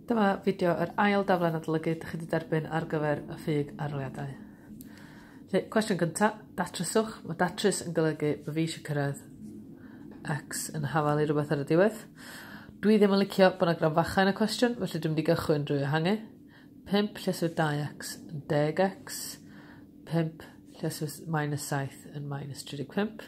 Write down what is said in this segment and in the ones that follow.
Dyma fideo yr ail daflen adolygu dych chi wedi derbyn ar gyfer y ffug arholiadau. Felly, cwestiwn gyntaf, datryswch. Mae datrys yn golygu bod fi eisiau cyrraedd X yn hafal i rhywbeth ar y diwedd. Dwi ddim yn licio bod yna gran fachau yn y cwestiwn, felly dwi'n mynd i gychwyn drwy ehangu. 5 lleswyr 2x yn 10x, 5 lleswyr minus 7 yn minus 35.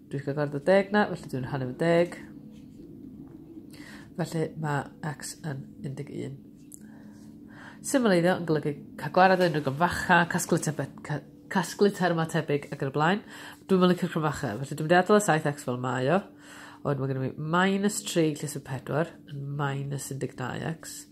Dwi'n gyda'r dy deg na, felly dwi'n hanner fy deg. Felly mae x yn 11. Symleiddio yn golygu cael gwared o unrhyw gymfacha, casglu, tebed, ca, casglu terma tebyg ac yn y blaen. Dwi'n mynd licio'r cymfacha, felly dwi'n mynd i adael y 7x fel mae o. Ond mae gennym ni minus 3 lle sy'n 4 yn minus 12x.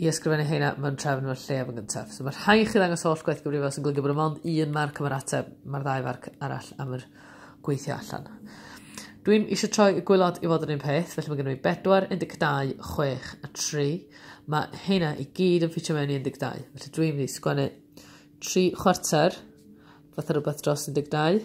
i ysgrifennu heina mewn trefn mewn lle am yn gyntaf. So mae rhai chi ddangos holl gwaith gyfrifol sy'n golygu bod yma ond un marc am yr ateb, mae'r ddau farc arall am yr gweithio allan. Dwi'n eisiau troi y gwylod i fod yr un peth, felly mae gen i 4, 12, 6 a 3. Mae heina i gyd yn ffitio mewn i 12, felly dwi'n mynd i sgwennu 3 chwarter, fath o rhywbeth dros 12,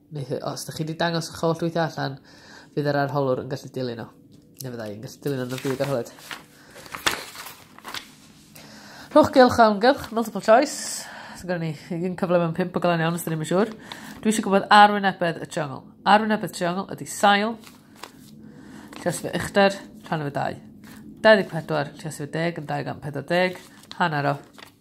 Neith, os da chi wedi dangos eich holl weithiau allan, fydd yr arholwr yn gallu dilyn o. Neu fydda i'n gallu dilyn o'n y byd arholwyd. Rhwch gylch o amgylch, multiple choice. So gyda ni un cyfle mewn pimp o galan iawn, os da ni'n siŵr. Dwi eisiau gwybod arwynebedd y triongl. Arwynebedd triongl ydy sail, llios fe uchder, rhan o fe dau. 24, llios fe deg yn 240, hanner o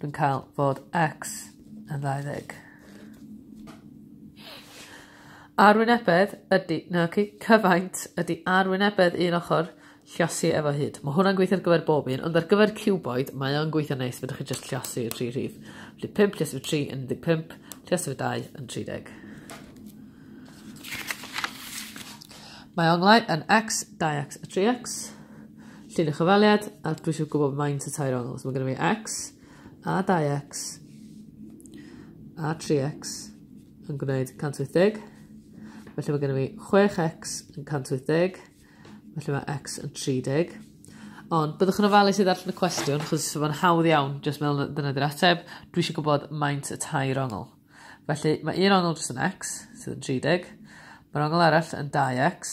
Dwi'n cael fod X yn ddau ddeg. Arwynebedd ydy... Na, oce. Cyfaint ydy arwynebedd un ochr llosi efo hyd. Mae hwnna'n gweithio ar gyfer bob un, ond ar gyfer cuboid, mae o'n gweithio neis, fydwch chi jyst llosi y tri rhif. Felly 5 llosi fy 3 yn 15, llosi fy 2 yn 30. Mae onglau yn x, 2x a 3x. Llun y chyfaliad, a dwi eisiau gwybod maint y tair ongl. So mae gen i fi x, a 2x, a 3x yn gwneud 180. Felly mae gen i fi 6x yn 180. Felly mae x yn 30. Ond byddwch yn ofalus i ddarllen y cwestiwn, chos mae'n hawdd iawn, jyst meddwl dyna dy'r ateb. Dwi eisiau gwybod maint y tair ongl. Felly mae un ongl jyst yn x, sydd yn 30. Mae'r ongl arall yn 2x,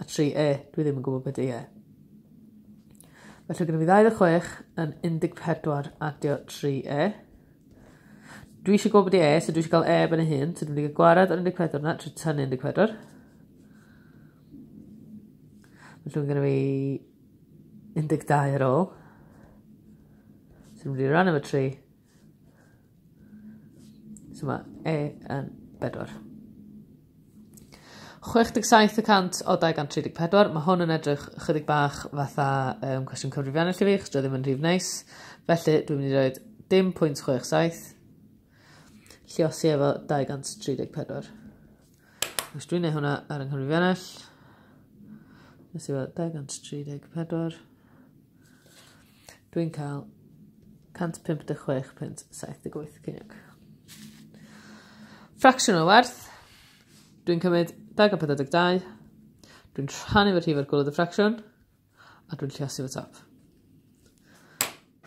A tri e, dwi ddim yn gwybod beth di e. Felly gyda fi 26 yn 14 adio 3 e. Dwi eisiau gwybod beth di e, so dwi eisiau cael e ben y hun, so dwi'n mynd i gwared ar 14 na, trwy tynnu 14. Felly mae gen i fi 12 ar ôl. So dwi'n mynd i ran efo 3, So mae E yn 4. 67 y cant o 234, mae hwn yn edrych chydig bach fatha um, cwestiwn cyfrifiannau i fi, chos dwi ddim yn rhif neis. Felly, dwi'n mynd i roed dim pwynt 67, lliosi efo 234. Os dwi'n neud hwnna ar yng nghyfrifiannell, nes i fod 234, Dwi'n cael 156 pwynt 78 ceiniog. Fracsiwn o werth. Dwi'n cymryd 242. Dwi'n rhannu fy rhif ar gwrdd y ffracsiwn. A dwi'n lliasu fy top.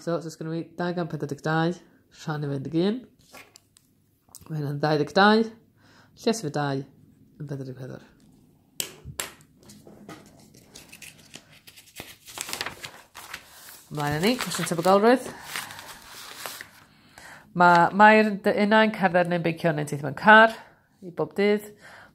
So, os oes gen i 242 rhan i 21. Mae hyn yn 22. Lles fy dau yn 44. Ymlaen yn ni, cwestiwn tebygolrwydd. Mae Mair yn dy unau'n cerdded neu'n beicio neu'n teithio mewn car i bob dydd.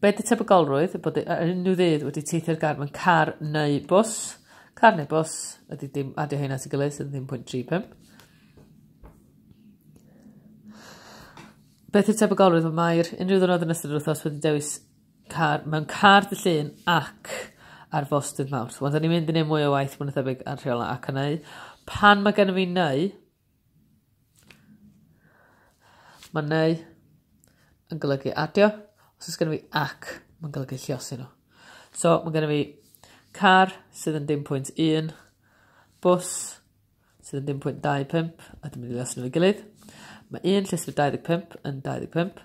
Be ydy tebygolrwydd? Bod ar unrhyw ddydd wedi teithio'r gar mewn car neu bws. Car neu bws ydy dim adio hyn at y gilydd sydd ddim pwynt 35. Beth yw tebygolrwydd? Mae'r unrhyw ddwrnod yn ystod yr wythnos wedi dewis car, mewn car dy llun ac ar fos dydd mawrth. Wel, da ni'n mynd i wneud mwy o waith mwy na thebyg ar rheola ac yn ei. Pan mae gen i fi neu, Mae neu yn golygu adio. Os oes gennym fi ac, mae'n golygu lliosi nhw. So, mae gennym fi car sydd yn dim pwynt 1, bus sydd yn dim pwynt 25, a dwi'n mynd i lasio nhw i gilydd. Mae un llystyr 25 yn 25.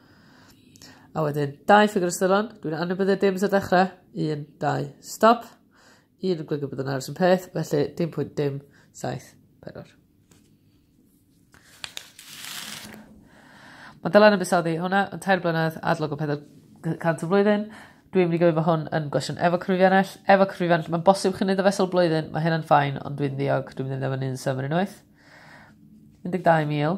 A wedyn, dau ffigur ystyrlon, dwi'n anwybyddu dim sy'n dechrau, un, dau, stop. Un yn gwybod bod yn aros yn peth, felly dim pwynt dim, saith, pedwar. Mae Dylan yn busoddi hwnna yn tair blynedd adlog o 400 o flwyddyn. Dwi'n mynd i gofio fo hwn yn gwestiwn efo cryfiannell. Efo cryfiannell, mae'n bosib chi'n neud y fesol blwyddyn, mae hynna'n ffain, ond dwi'n ddiog, dwi'n mynd i ddim yn un symud unwaith. 12,000.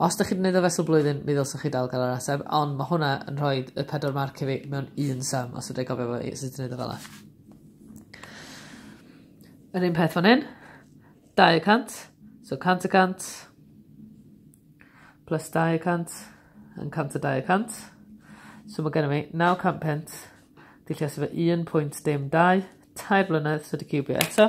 Os dych chi 'di neud o fesul blwyddyn mi ddylsech chi dal ga'l yr ateb ond ma' hwnna yn rhoid y pedwar marc i fi mewn un sum os fedrai gofio fo i- sut i neud o fel 'a. Yr un peth fan 'yn. Dau y cant. So cant y cant. Plus dau y cant. Yn cant a dau y cant. So ma' genno fi naw cant punt. Di llesio fo un pwynt dim dau. Tair blynedd so 'di ciwbio eto.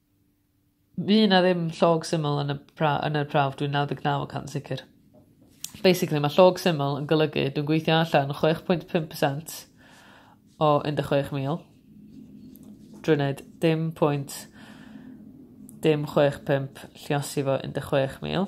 Fydd 'na ddim llog syml yn y pra- yn y prawf dwi'n naw deg naw y cant sicir. Basically ma' llog syml yn golygu dwi'n gweithio allan chwech pwynt pump y cant o un deg chwech mil drwy wneud dim pwynt dim chwech pump lliosi fo un deg chwech mil.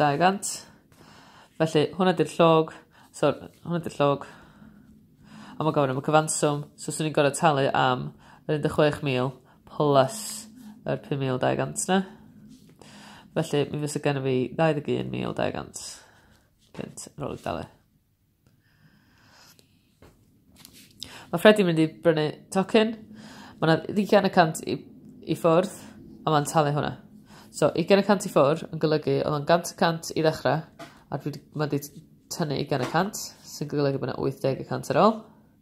200. Felly, hwnna di'r llog. So, hwnna di'r llog. A mae gofyn am y cyfanswm. So, swn i'n gorau talu am yr 16,000 plus yr 5,200 na. Felly, mi fysa gen i fi 21,200 pint yn ôl i dalu. Mae Freddie mynd i brynu tocyn. Mae yna ddigen y cant i, i ffwrdd, a mae'n talu hwnna. So, ugen y cant i ffwrdd yn golygu oedd o'n gant y cant i ddechrau, a dwi, mae wedi tynnu ugen y cant, sy'n golygu bod yna 80 y cant ar ôl.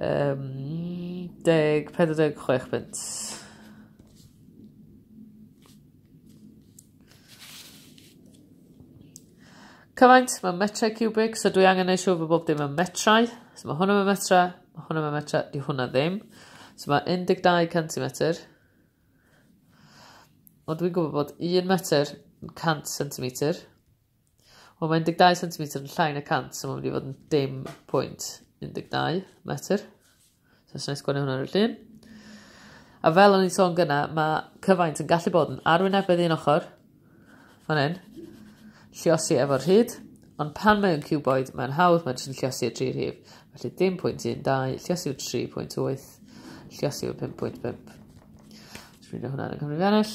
Um, deg, 46 punt. Cyfaint, mae metrau cubic, so dwi angen ei siw fod bob dim yn metrau. So mae hwnna yn metrau, mae hwnna yn metrau, di hwnna ddim. So mae 12 centimetr. Ond dwi'n gwybod bod 1 metr yn 100 centimetr. Wel, mae 12 cm yn llai na 100, so mae'n mynd i fod yn dim pwynt 12 metr. So, sy'n sgwennu hwnna ar y llun. A fel o'n i'n sôn gyna, mae cyfaint yn gallu bod yn arwynebedd un ochr, fan hyn, lliosi efo'r hyd, ond pan mae'n cuboid, mae'n hawdd, mae'n jyst yn lliosi y tri rhif. Felly 10.12, lliosi yw 3.8, lliosi yw 5.5. Dwi'n rhaid hwnna'n y Cymru Fenell.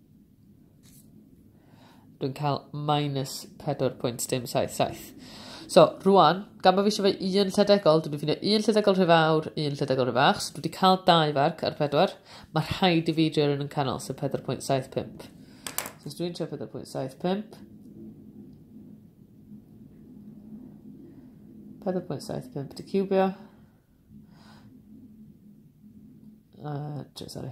Dwi'n cael minus 4.177. So, rwan, gan bod fi eisiau fe un llydegol, dwi'n ffindio un llydegol rhy fawr, un llydegol rhy fach, so dwi wedi cael dau farc ar 4. Mae rhaid i fi drio rhywun yn canol, so 4.75. So, os dwi'n trio 4.75, 4.75 di cubio. Uh, sorry.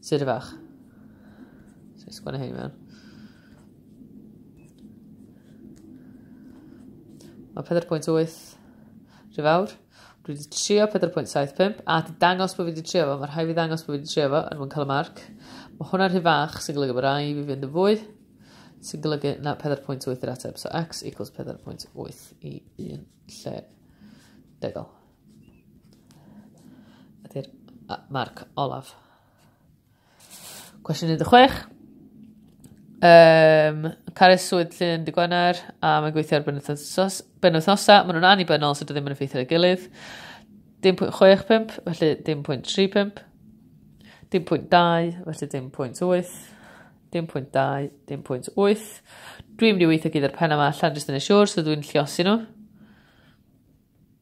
Sut y fach? So i sgwennu hyn i mewn. Mae 4.8 rhyw fawr. Dwi wedi trio 4.75 a di dangos bod fi wedi trio fo. Mae rhai fi ddangos bod fi wedi trio fo yn mwyn cael y marc. Mae hwnna rhy fach sy'n golygu bod rai fi fynd yn fwy sy'n golygu na 4.8 i'r ateb. So x equals 4.8 i un lle degol. Ydy'r marc olaf. Cwestiwn 16. Um, Caris Swydd Llyn Dy Gwener a mae'n gweithio ar benwythnosa. Maen nhw'n annibynnol sydd so ddim yn effeithio ar ei gilydd. 10.65, felly 10.35. 10.2, felly 10.8. 10.2, 10.8. Dwi'n mynd i weithio gyda'r pen yma allan jyst yn ei siwr, so dwi'n lliosi nhw.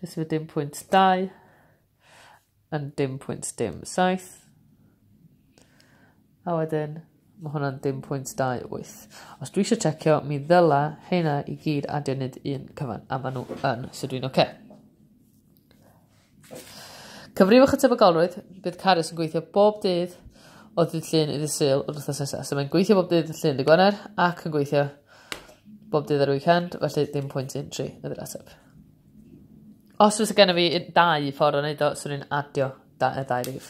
Jyst efo dim pwynt 2 yn dim pwynt dim 7. A wedyn, mae hwnna'n dim pwynt 2 8. Os dwi eisiau checio, mi ddyla hynna i gyd adio nid un cyfan, a maen nhw yn, so dwi'n oce. Okay. Cyfrifwch y tebygolrwydd, bydd Carys yn gweithio bob dydd o ddydd llun i ddydd syl o'r wythnos nesaf. So mae'n gweithio bob dydd llun dy Gwener ac yn gweithio bob dydd ar y weekend, felly dim pwynt un tri ydy'r ateb. Os fysa gennyf fi un- dau ffor o neud o swn i'n adio da- yy dau rif.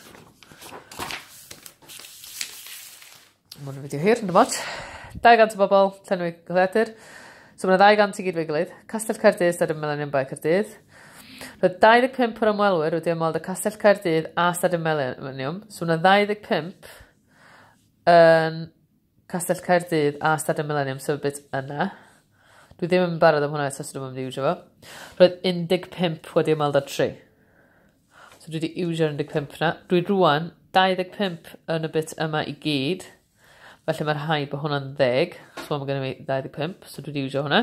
Ma' 'wn yn fideo hir on'd ots. Dau gant o bobol llenwi dyddiadur. So ma' 'na ddau gant i gyd efo'i gilydd. Castell Caerdydd Stadiwm Melanion Bae Caerdydd. Roedd 25 o'r ymwelwyr wedi ymweld â Castell Caerdydd a Stadiwm Melanion. So ma' 'na 25 yn Castell Caerdydd a Stadiwm Mileniwm sefydlwyd yna. Dwi ddim yn barod am hwnna eto, so dwi'm yn mynd i iwsio fo. Roedd 15 wedi ymweld â'r tri. So dwi wedi iwsio'r 15 na. Dwi rwan 25 yn y bit yma i gyd. Felly mae rhai bod hwnna'n ddeg. So mae gen i 25, so dwi wedi iwsio hwnna.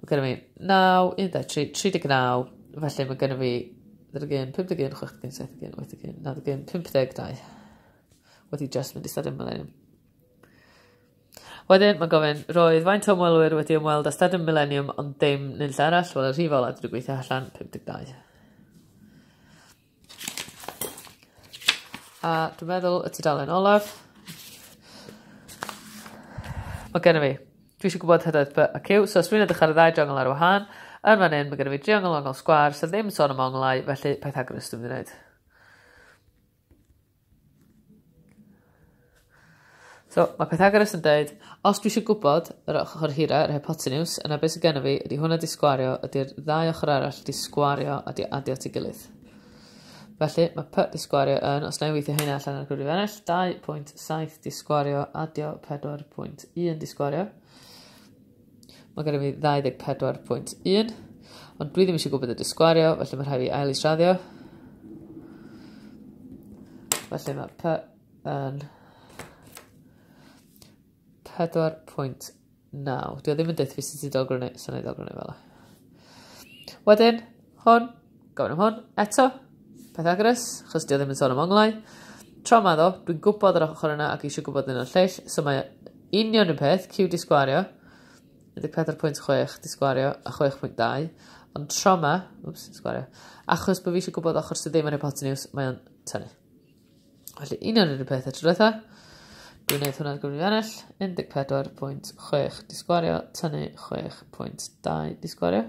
Ma' gynno fi naw un dau tri tri deg naw felly ma' gynno fi ddeg ar gin pum deg un chwech deg un saith deg un wyth deg un naw deg un pump deg dau. Wedi jyst mynd i stadiwm mileniwm. Wedyn ma'n gofyn roedd faint o ymwelwyr wedi ymweld â stadiwm mileniwm ond dim nunlle arall wel y rhif ola dwi 'di gweithio allan pum deg dau. A dwi'n meddwl y tudalen olaf. Mae gennym fi. Dwi eisiau gwybod hydoedd P a Q. So os dwi'n edrych ar y ddau driongl ar wahân, yn fan hyn mae gennym fi driongl ongl sgwar sydd ddim yn sôn am onglau, felly Pythagoras dwi'n mynd i wneud. So, mae Pythagoras yn dweud, os dwi eisiau gwybod yr ochr hira, yr hypotenws, yna beth sydd gennym fi, ydy hwnna di sgwario, ydy'r ddau ochr arall di sgwario a di adio at ei gilydd. Felly, mae P di sgwario yn, os na i weithio hynna allan ar gwrdd i ennill, 2.7 di sgwario adio 4.1 di sgwario. Mae gen i fi 24.1, ond dwi ddim eisiau gwybod y disgwario, felly mae rhaid fi ail israddio. Felly mae P yn 4.9. Dwi ddim yn dweud fi sydd wedi dod gwrnau, sy'n ei dod gwrnau fel yna. Wedyn, Hwn, gofyn am hwn, eto. Pythagoras, chos di o ddim yn sôn am onglau. Tro ma ddo, dwi'n gwybod yr ochr yna ac eisiau gwybod yn o'r lleill, so mae union yn peth, Q di sgwario, 14.6 di sgwario a 6.2, ond tro ma, wps, sgwario, achos bod fi eisiau gwybod ochr sydd ddim yn hypoteniws, mae o'n tynnu. Felly union yr un peth y tro diwetha. Dwi'n gwneud hwnna'n gwmni ennill. 14.6 disgwario, tynnu 6.2 disgwario.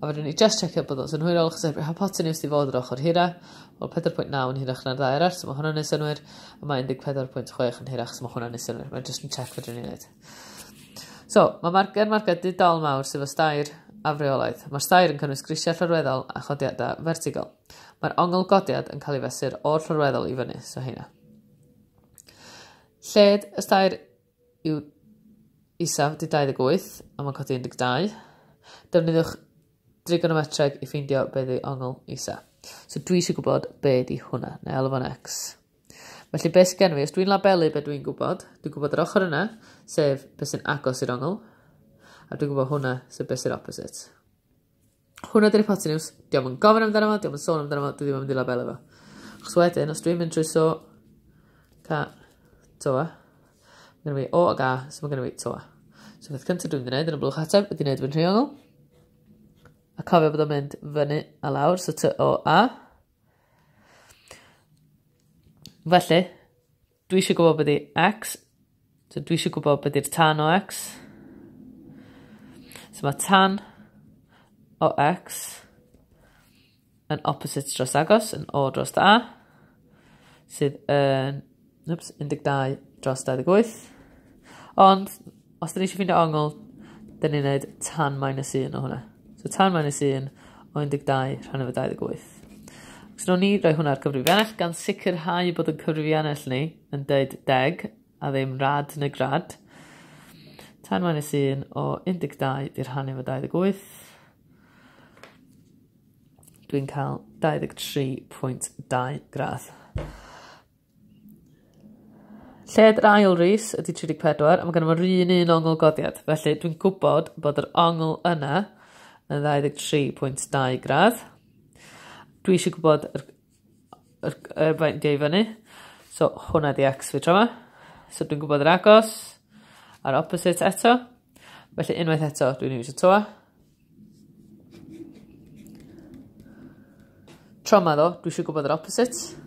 A fedrwn ni just checio bod o'n synhwyrol, chos heb hypotenuse di fod yr ochr hira, wel 4.9 yn hirach na'r ddau arall, so mae hwnna'n ei synwyr, a mae 14.6 yn hirach, so mae hwnna'n ei synwyr. Mae'n just yn check fedrwn ni'n neud. So, mae marged marged didol mawr sydd o stair a freolaeth. Mae'r stair yn cynnwys grisiau llorweddol a chodiadau fertigol. Mae'r ongl godiad yn cael ei fesur o'r llorweddol i fyny, so heina. Lled y stair yw isaf di 28 a mae'n codi 12. Defnyddiwch drigonometreg i ffeindio beth yw ongl isa. So dwi eisiau gwybod be di hwnna, neu alw fo'n x. Felly beth sy'n gen fi, os dwi'n labelu beth dwi'n gwybod, dwi'n gwybod yr ochr yna, sef beth sy'n agos i'r ongl, a dwi'n gwybod hwnna, sef beth sy'n opposite. Hwnna ydy'r hypotenws. Diolch yn gofyn amdano fo, diolch yn sôn amdano fo, dwi ddim yn mynd i labelu fo. Chos wedyn, os dwi'n mynd trwy so, ca, toa, mae gen i o ag a, so mae gen i toa. So beth cyntaf dwi'n mynd i wneud yn y blwch ateb ydy wneud fy nhriongl. A cofio bod o'n mynd fyny a lawr, so ty o a. Felly, Dwi eisiau gwybod beth i X. So dwi eisiau gwybod beth i'r tan o X. So mae tan o X yn opposite dros agos, yn O dros A, sydd yn oops, 12 dros 28. Ond Os dyn ni eisiau ffindio ongl, dyn ni'n neud tan minus 1 o hwnna. So tan minus 1 o 12 rhan efo 28. Os nhw'n ni roi hwnna'r cyfrifiannell gan sicrhau bod y cyfrifiannell ni yn deud deg a ddim rad neu grad. Tan minus 1 o 12 di rhan efo 28. Dwi'n cael 23.2 gradd. Lled yr ail ris ydy 34 a mae gennym ni'r un un ongl godiad. Felly dwi'n gwybod bod yr ongl yna yn 23.2 gradd. Dwi eisiau gwybod yr, yr, yr faint dio i fyny. So hwnna di x fi tro yma. So dwi'n gwybod yr agos a'r opposite eto. Felly unwaith eto dwi'n iwsio toa. Tro ma ddo, dwi eisiau gwybod yr opposite.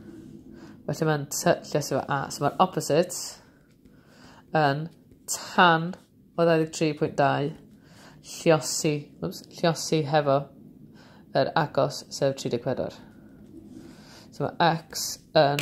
Felly mae'n lle sef A. So mae'r opposite yn tan o 23.2 lliosi, oops, lliosi hefo yr agos sef 34. So mae x yn